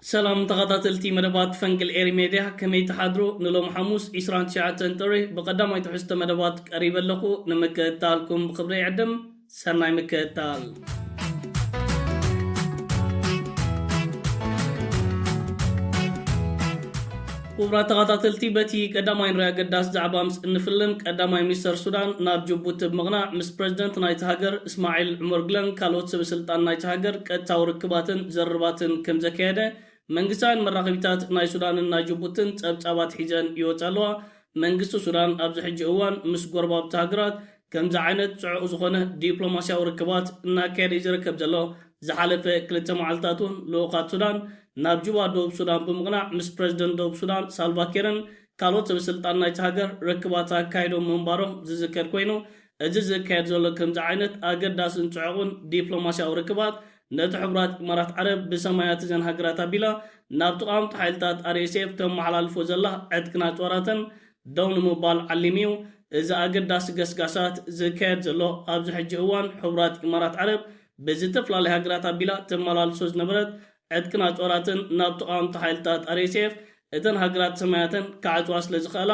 ሰላም ተኻታተልቲ መደባት ፈንቅል ኤሪ ሜድያ ከመይ ትሓድሩ ንሎም ሓሙስ ዕስራን ትሽዓተን ጥሪ ብቀዳማይ ትሕዝቶ መደባት ቀሪበ ኣለኹ ንምክእታልኩም ብኽብሪ ይዕድም ሰናይ ምክእታል። ክቡራት ተኻታተልቲ በቲ ቀዳማይ ንሪ ኣገዳሲ ዛዕባ ምስ እንፍልም ቀዳማይ ሚኒስተር ሱዳን ናብ ጅቡቲ ብምቕናዕ ምስ ፕረዚደንት ናይቲ ሃገር እስማዒል ዑመርግለን ካልኦት ሰበስልጣን ናይታ ሃገር ቀጥታዊ ርክባትን ዘርርባትን ከምዘካየደ መንግስታውያን መራኸቢታት ናይ ሱዳንን ናይ ጅቡትን ጸብጻባት ሒዘን ይወጻ ኣለዋ። መንግስቲ ሱዳን ኣብዚ ሕጂ እዋን ምስ ጎረባብቲ ሃገራት ከምዚ ዓይነት ጽዑቕ ዝኾነ ዲፕሎማስያዊ ርክባት እናካየደ እዩ ዝርከብ ዘሎ። ዝሓለፈ ክልተ መዓልታት እውን ልኡኻት ሱዳን ናብ ጁባ ደቡብ ሱዳን ብምቕናዕ ምስ ፕረዚደንት ደቡብ ሱዳን ሳልቫኪርን ካልኦት ሰበስልጣን ናይታ ሃገር ርክባት ኣካይዶም ምንባሮም ዝዝከር ኮይኑ፣ እዚ ዝካየድ ዘሎ ከምዚ ዓይነት ኣገዳስን ጽዑቕን ዲፕሎማስያዊ ርክባት፣ ነቲ ሕቡራት ኢማራት ዓረብ ብሰማያት እዘን ሃገራት ኣቢላ ናብ ተቓወምቲ ሓይልታት RSF ተመሓላልፎ ዘላ ዕጥቅን ኣጽዋራትን ደው ንምባል ዓሊሙ እዩ እዚ ኣገዳሲ ገስጋሳት ዝካየድ ዘሎ። ኣብዚ ሕጂ እዋን ሕቡራት ኢማራት ዓረብ ብዝተፈላለያ ሃገራት ኣቢላ ተመላልሶ ዝነበረት ዕጥቅን ኣጽዋራትን ናብ ተቓወምቲ ሓይልታት RSF እተን ሃገራት ሰማያተን ክዓጽዋ ስለ ዝኸእላ፣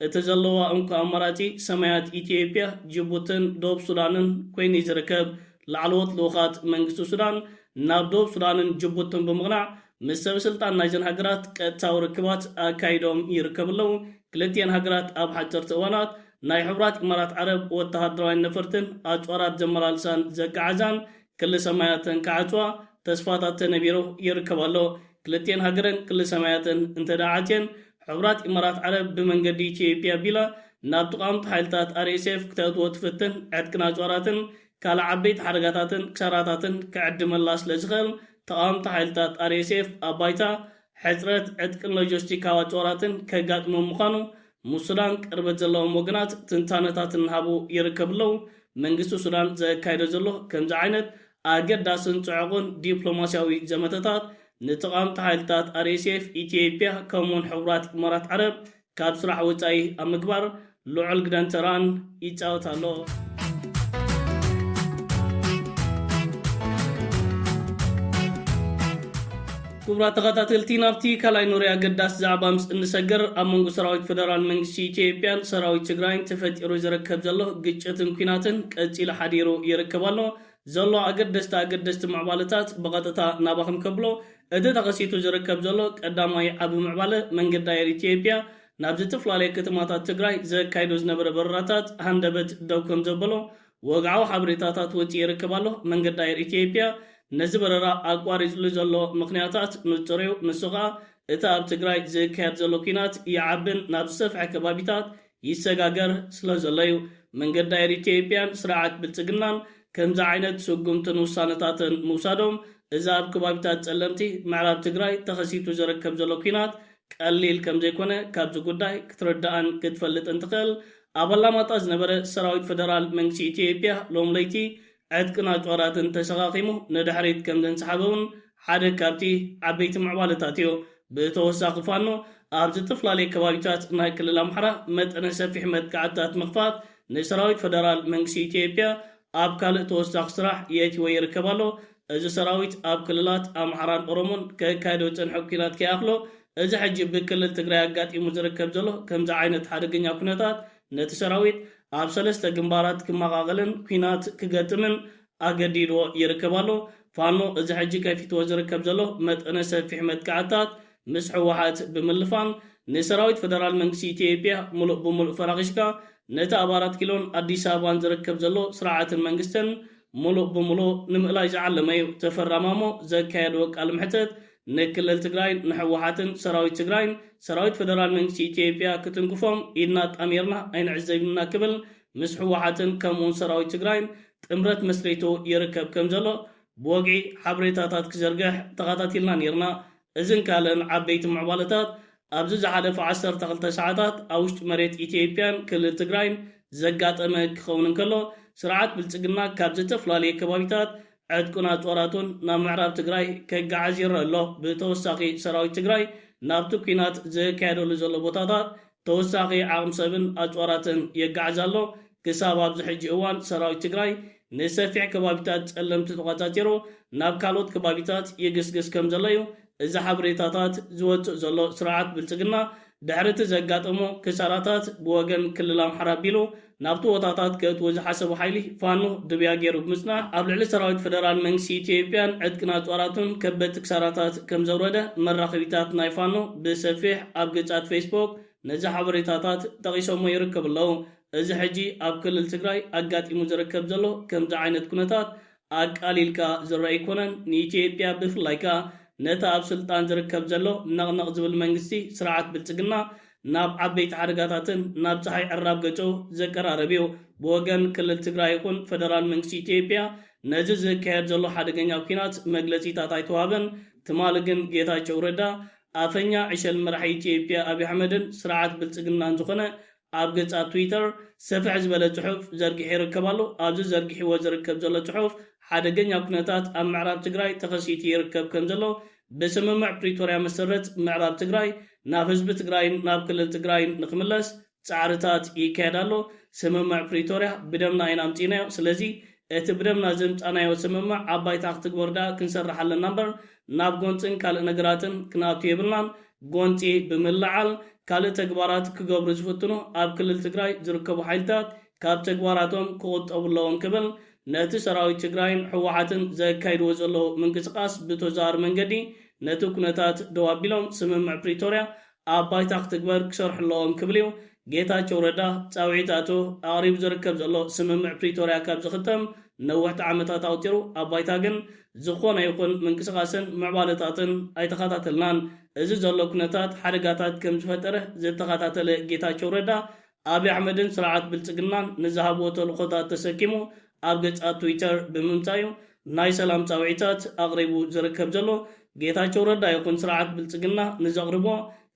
እቲ ዘለዋ እንኮ ኣማራጺ ሰማያት ኢትዮጵያ፣ ጅቡትን ደቡብ ሱዳንን ኮይኑ'ዩ ዝርከብ። ላዕለዎት ልኡኻት መንግስቲ ሱዳን ናብ ደቡብ ሱዳንን ጅቡትን ብምቕናዕ ምስ ሰበስልጣን ናይዘን ሃገራት ቀጥታዊ ርክባት ኣካይዶም ይርከቡ ኣለዉ። ክልቲኤን ሃገራት ኣብ ሓጸርቲ እዋናት ናይ ሕቡራት ኢማራት ዓረብ ወተሃደራውያን ነፈርትን ኣጽዋራት ዘመላልሳን ዘጋዓዛን ክሊ ሰማያተን ክዓጽዋ ተስፋታት ተነቢሩ ይርከብ ኣሎ። ክልቲኤን ሃገረን ክሊ ሰማያተን እንተድኣ ዓጽየን፣ ሕቡራት ኢማራት ዓረብ ብመንገዲ ኢትዮጵያ ኣቢላ ናብ ተቓወምቲ ሓይልታት RSF ክተእትዎ ትፍትን ዕጥቅን ኣጽዋራትን ካልእ ዓበይቲ ሓደጋታትን ክሳራታትን ክዕድመላ ስለዝኽእል ተቓወምቲ ሓይልታት RSF ኣብ ባይታ ሕጽረት ዕጥቅን ሎጀስቲካዊ ኣጽዋራትን ከጋጥሞም ምዃኑ ምስ ሱዳን ቅርበት ዘለዎም ወገናት ትንታነታት እናሃቡ ይርከቡ ኣለው። መንግስቲ ሱዳን ዘካይዶ ዘሎ ከምዚ ዓይነት ኣገዳስን ጽዑቕን ዲፕሎማስያዊ ዘመተታት፣ ንተቓወምቲ ሓይልታት ኣርኤስኤፍ፣ ኢትዮጵያ ከምኡ'ውን ሕቡራት ኢማራት ዓረብ ካብ ስራሕ ወጻኢ ኣብ ምግባር ልዑል ግደን ተራን ይጫወት ኣሎ። ክቡራት ተኸታተልቲ ናብቲ ካልኣይ ኖርያ ኣገዳሲ ዛዕባ ምስ እንሰግር ኣብ መንጎ ሰራዊት ፈደራል መንግስቲ ኢትዮጵያን ሰራዊት ትግራይን ተፈጢሩ ዝርከብ ዘሎ ግጭትን ኩናትን ቀፂሉ ሓዲሩ ይርከብ ኣሎ ዘሎ ኣገደስቲ ኣገደስቲ ምዕባለታት ብቐጥታ ናባኹም ከብሎ እቲ ተኸሲቱ ዝርከብ ዘሎ ቀዳማይ ዓቢ ምዕባለ መንገዲ ኣየር ኢትዮጵያ ናብ ዝትፍላለየ ከተማታት ትግራይ ዘካይዶ ዝነበረ በረራታት ሃንደበት ደው ከምዘበሎ ወግዓዊ ሓበሬታታት ወጺኡ ይርከብ ኣሎ። መንገዲ ኣየር ኢትዮጵያ ነዚ በረራ ኣቋሪጽሉ ዘሎ ምኽንያታት ንጹር'ዩ፣ ንሱ ከኣ እቲ ኣብ ትግራይ ዝካየድ ዘሎ ኲናት ይዓብን ናብ ዝሰፍሐ ከባቢታት ይሰጋገር ስለዘሎ'ዩ። መንገዲ ኣየር ኢትዮጵያን ስርዓት ብልጽግናን ከምዚ ዓይነት ስጉምትን ውሳነታትን ምውሳዶም እዚ ኣብ ከባቢታት ጸለምቲ ምዕራብ ትግራይ ተኸሲቱ ዝርከብ ዘሎ ኲናት ቀሊል ከምዘይኮነ ካብዚ ጉዳይ ክትርዳእን ክትፈልጥን ትኽእል። ኣብ ኣላማጣ ዝነበረ ሰራዊት ፈደራል መንግስቲ ኢትዮጵያ ሎሚ ለይቲ ዕጥቅን ኣጽዋራትን ተሰኻኺሙ ንድሕሪት ከምዘንሰሓበ እውን ሓደ ካብቲ ዓበይቲ ምዕባለታት እዩ። ብተወሳኺ ፋኖ ኣብ ዝትፍላለየ ከባቢታት ናይ ክልል ኣምሓራ መጠነ ሰፊሕ መጥቃዕትታት ምኽፋት ንሰራዊት ፈደራል መንግስቲ ኢትዮጵያ ኣብ ካልእ ተወሳኺ ስራሕ የእቲዎ ይርከብ ኣሎ። እዚ ሰራዊት ኣብ ክልላት ኣምሓራን ኦሮሞን ከካይዶ ዝጸንሐ ኲናት ከይኣኽሎ፣ እዚ ሕጂ ብክልል ትግራይ ኣጋጢሙ ዝርከብ ዘሎ ከምዚ ዓይነት ሓደገኛ ኩነታት ነቲ ሰራዊት ኣብ ሰለስተ ግንባራት ክመቓቐልን ኲናት ክገጥምን ኣገዲድዎ ይርከብ ኣሎ። ፋኖ እዚ ሕጂ ከፊትዎ ዝርከብ ዘሎ መጠነ ሰፊሕ መጥቃዕትታት ምስ ህወሓት ብምልፋን ንሰራዊት ፈደራል መንግስቲ ኢትዮጵያ ሙሉእ ብሙሉእ ፈራኺሽካ ነቲ ኣብ ኣራት ኪሎን ኣዲስ ኣበባን ዝርከብ ዘሎ ስርዓትን መንግስትን ሙሉእ ብሙሉእ ንምእላይ ዝዓለመ ዩ። ተፈራ ማሞ ዘካየድዎ ቃል መሕተት ንክልል ትግራይን ንሕወሓትን ሰራዊት ትግራይን ሰራዊት ፈደራል መንግስቲ ኢትዮጵያ ክትንክፎም ኢድና ኣጣሚርና ኣይንዕዘብን ኢና ክብል ምስ ሕወሓትን ከምኡ ውን ሰራዊት ትግራይን ጥምረት መስሪቱ ይርከብ ከም ዘሎ ብወግዒ ሓበሬታታት ክዘርግሕ ተኻታቲልና ኔርና። እዝን ካልእን ዓበይቲ ምዕባለታት ኣብዚ ዝሓለፉ ዓሰርተ ክልተ ሰዓታት ኣብ ውሽጢ መሬት ኢትይጵያን ክልል ትግራይን ዘጋጠመ ክኸውን እንከሎ ስርዓት ብልፅግና ካብ ዘተፍላለየ ከባቢታት ዕጥቁን ኣፅዋራቱን ናብ ምዕራብ ትግራይ ከጋዕዝ ይረእ ኣሎ ብተወሳኺ ሰራዊት ትግራይ ናብቲ ኩናት ዘካየደሉ ዘሎ ቦታታት ተወሳኺ ዓቕም ሰብን ኣፅዋራትን የጋዕዝ ኣሎ ክሳብ ኣብዚ ሕጂ እዋን ሰራዊት ትግራይ ንሰፊሕ ከባቢታት ፀለምቲ ተቋፃፂሩ ናብ ካልኦት ከባቢታት ይግስግስ ከምዘሎ እዩ እዚ ሓበሬታታት ዝወጽእ ዘሎ ስርዓት ብልጽግና ድሕሪ እቲ ዘጋጠሞ ክሳራታት ብወገን ክልል ኣምሓራ ኣቢሉ ናብቲ ቦታታት ከእትዎ ዝሓሰቦ ሓይሊ ፋኖ ድብያ ገይሩ ብምጽናሕ ኣብ ልዕሊ ሰራዊት ፈደራል መንግስቲ ኢትዮጵያን ዕጥቅን ኣጽዋራቱን ከበድቲ ክሳራታት ከምዘውረደ መራኸቢታት ናይ ፋኖ ብሰፊሕ ኣብ ገጻት ፌስቦክ ነዚ ሓበሬታታት ጠቒሶሞ ይርከቡ ኣለው። እዚ ሕጂ ኣብ ክልል ትግራይ ኣጋጢሙ ዝርከብ ዘሎ ከምዚ ዓይነት ኩነታት ኣቃሊልካ ዝርኣ ኣይኮነን። ንኢትዮጵያ ብፍላይ ከኣ ነቲ ኣብ ስልጣን ዝርከብ ዘሎ ነቕነቕ ዝብል መንግስቲ ስርዓት ብልጽግና ናብ ዓበይቲ ሓደጋታትን ናብ ጸሓይ ዕራብ ገጹ ዘቀራርብ እዩ። ብወገን ክልል ትግራይ ይኹን ፈደራል መንግስቲ ኢትዮጵያ ነዚ ዝካየድ ዘሎ ሓደገኛ ኲናት መግለጺታት ኣይተዋህበን። ትማሊ ግን ጌታቸው ረዳ ኣፈኛ ዕሸል መራሒ ኢትዮጵያ ኣብይ ኣሕመድን ስርዓት ብልጽግናን ዝኾነ ኣብ ገጻት ትዊተር ሰፍሕ ዝበለ ጽሑፍ ዘርጊሑ ይርከብ ኣሎ። ኣብዚ ዘርጊሕዎ ዝርከብ ዘሎ ጽሑፍ ሓደገኛ ኩነታት ኣብ ምዕራብ ትግራይ ተኸሲቱ ይርከብ ከም ዘሎ ብስምምዕ ፕሪቶርያ መሰረት ምዕራብ ትግራይ ናብ ህዝቢ ትግራይን ናብ ክልል ትግራይን ንክምለስ ጻዕርታት ይካየድ ኣሎ። ስምምዕ ፕሪቶርያ ብደምና ኢና ኣምጺእናዮ። ስለዚ እቲ ብደምና ዘምጻእናዮ ስምምዕ ኣብ ባይታ ክትግበር ድኣ ክንሰርሕ ኣለና እምበር ናብ ጎንፅን ካልእ ነገራትን ክንኣቱ የብልናን፣ ጎንፂ ብምልዓል ካልእ ተግባራት ክገብሩ ዝፍትኑ ኣብ ክልል ትግራይ ዝርከቡ ሓይልታት ካብ ተግባራቶም ክቑጠቡ ኣለዎም ክብል ነቲ ሰራዊት ትግራይን ህወሓትን ዘካይድዎ ዘለዉ ምንቅስቓስ ብተዘዋዋሪ መንገዲ ነቲ ኩነታት ደው ኣቢሎም ስምምዕ ፕሪቶርያ ኣብ ባይታ ክትግበር ክሰርሑ ኣለዎም ክብል እዩ ጌታቸው ረዳ ፃውዒት ኣእትዩ። ኣቕሪቡ ዝርከብ ዘሎ ስምምዕ ፕሪቶርያ ካብ ዝኽተም ነወሕቲ ዓመታት ኣቑፂሩ። ኣብ ባይታ ግን ዝኾነ ይኹን ምንቅስቓስን ምዕባለታትን ኣይተኸታተልናን። እዚ ዘሎ ኩነታት ሓደጋታት ከም ዝፈጠረ ዝተኸታተለ ጌታቸው ረዳ ኣብይ ኣሕመድን ስርዓት ብልፅግናን ንዝሃብዎ ተልእኾታት ተሰኪሙ ኣብ ገፃት ትዊተር ብምምፃእ ዩ ናይ ሰላም ፃውዒታት ኣቕሪቡ ዝርከብ ዘሎ። ጌታቸው ረዳ ይኹን ስርዓት ብልፅግና ንዘቕርቦ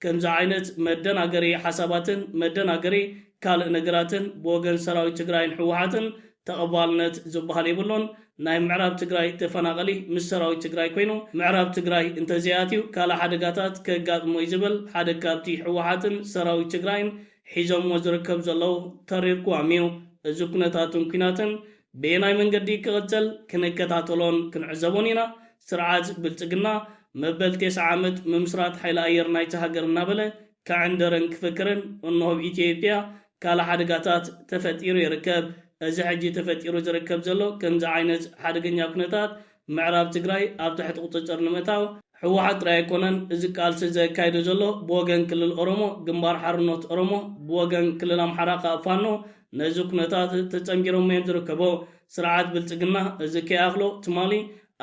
ከምዚ ዓይነት መደናገሪ ሓሳባትን መደናገሪ ካልእ ነገራትን ብወገን ሰራዊት ትግራይን ህወሓትን ተቐባልነት ዝበሃል የብሉን። ናይ ምዕራብ ትግራይ ተፈናቐሊ ምስ ሰራዊት ትግራይ ኮይኑ ምዕራብ ትግራይ እንተዘይኣትዩ ካልእ ሓደጋታት ከጋጥሞ እዩ ዝብል ሓደ ካብቲ ህወሓትን ሰራዊት ትግራይን ሒዞምዎ ዝርከብ ዘለዉ ተሪር ቅዋም እዩ። እዚ ኩነታትን ኲናትን በየናይ መንገዲ ክቕፅል ክንከታተሎን ክንዕዘቦን ኢና። ስርዓት ብልፅግና መበል ቴስዓ ዓመት ምምስራት ሓይሊ ኣየር ናይታ ሃገር እናበለ ከዕንድርን ክፍክርን እነሆ ኣብ ኢትዮጵያ ካልእ ሓደጋታት ተፈጢሩ ይርከብ። እዚ ሕጂ ተፈጢሩ ዝርከብ ዘሎ ከምዚ ዓይነት ሓደገኛ ኩነታት ምዕራብ ትግራይ ኣብ ትሕቲ ቁፅፅር ንምእታው፣ ህወሓት ጥራይ ኣይኮነን እዚ ቃልሲ ዘካይዶ ዘሎ ብወገን ክልል ኦሮሞ ግንባር ሓርኖት ኦሮሞ ብወገን ክልል ኣምሓራ ከኣ ፋኖ ነዚ ኩነታት ተፀንቢሮሞ እዮም ዝርከቦ። ስርዓት ብልፅግና እዚ ከይኣኽሎ ትማሊ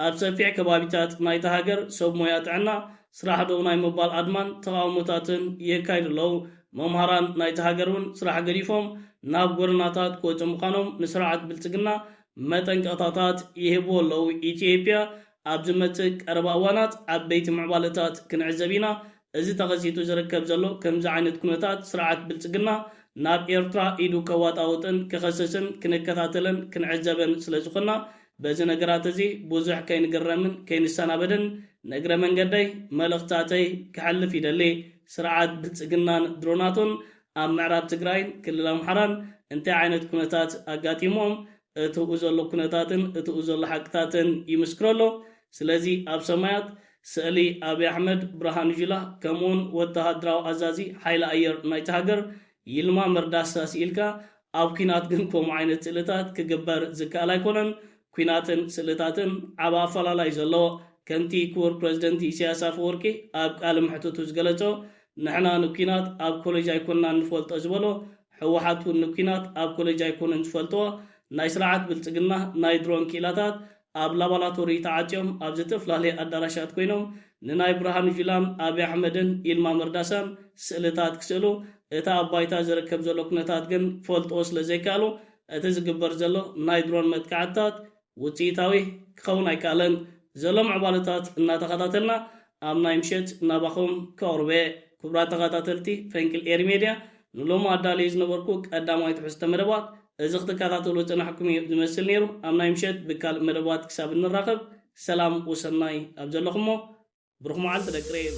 ኣብ ሰፊሕ ከባቢታት ናይታ ሃገር ሰብ ሞያ ጥዕና ስራሕ ደው ናይ ምባል ኣድማን ተቓውሞታትን የካይዱ ኣለዉ። መምሃራን ናይታ ሃገር እውን ስራሕ ገዲፎም ናብ ጎደናታት ክወጹ ምዃኖም ንስርዓት ብልጽግና መጠንቀቕታታት ይህብዎ ኣለዉ። ኢትዮጵያ ኣብ ዝመጽእ ቀረባ እዋናት ዓበይቲ ምዕባለታት ክንዕዘብ ኢና። እዚ ተኸሲቱ ዝርከብ ዘሎ ከምዚ ዓይነት ኩነታት ስርዓት ብልጽግና ናብ ኤርትራ ኢዱ ከዋጣውጥን ክኸስስን ክንከታተለን ክንዕዘበን ስለዝኾንና በዚ ነገራት እዚ ብዙሕ ከይንግረምን ከይንሰናበድን ንእግረ መንገደይ መልእኽታተይ ከሕልፍ ይደሊ። ስርዓት ብልጽግናን ድሮናቱን ኣብ ምዕራብ ትግራይን ክልል ኣምሓራን እንታይ ዓይነት ኩነታት ኣጋጢሙዎም እትኡ ዘሎ ኩነታትን እትኡ ዘሎ ሓቅታትን ይምስክሮ ኣሎ። ስለዚ ኣብ ሰማያት ስእሊ ኣብይ ኣሕመድ፣ ብርሃኑ ጁላ ከምኡውን ወተሃደራዊ ኣዛዚ ሓይሊ ኣየር ናይታ ሃገር ይልማ መርዳሳ ስኢልካ ኣብ ኲናት ግን ከምኡ ዓይነት ስእልታት ክግበር ዝከኣል ኣይኮነን። ኲናትን ስእልታትን ዓቢ ኣፈላላይ እዩ ዘለዎ። ከምቲ ክቡር ፕረዚደንት ኢሳያስ ኣፈወርቂ ኣብ ቃለ መሕትቱ ዝገለጾ ንሕና ንኲናት ኣብ ኮለጅ ኣይኮናን ንፈልጦ ዝበሎ፣ ህወሓት እውን ንኲናት ኣብ ኮለጅ ኣይኮኑን ዝፈልጥዎ። ናይ ስርዓት ብልጽግና ናይ ድሮን ክኢላታት ኣብ ላባላቶሪ ተዓጽዮም ኣብ ዘተፍላለየ ኣዳራሻት ኮይኖም ንናይ ብርሃኑ ጁላን ኣቢ ኣሕመድን ይልማ መርዳሳን ስእልታት ክስእሉ እቲ ኣብ ባይታ ዝርከብ ዘሎ ኩነታት ግን ክፈልጥዎ ስለ ዘይከኣሉ እቲ ዝግበር ዘሎ ናይ ድሮን መጥቃዕትታት ውጽኢታዊ ክኸውን ኣይከኣለን። ዘሎ ምዕባለታት እናተኸታተልና ኣብ ናይ ምሸት ናባኹም ከቕርበ። ክቡራት ተኸታተልቲ ፈንቅል ኤሪ ሜድያ፣ ንሎሚ ኣዳልየ ዝነበርኩ ቀዳማይ ትሕዝቶ መደባት እዚ ክትከታተሉ ዝጸናሕኩም እዩ ዝመስል ነይሩ። ኣብ ናይ ምሸት ብካልእ መደባት ክሳብ እንራኸብ ሰላም ወሰናይ ኣብ ዘለኹሞ ብሩኽ መዓልቲ ደቂ ሬም።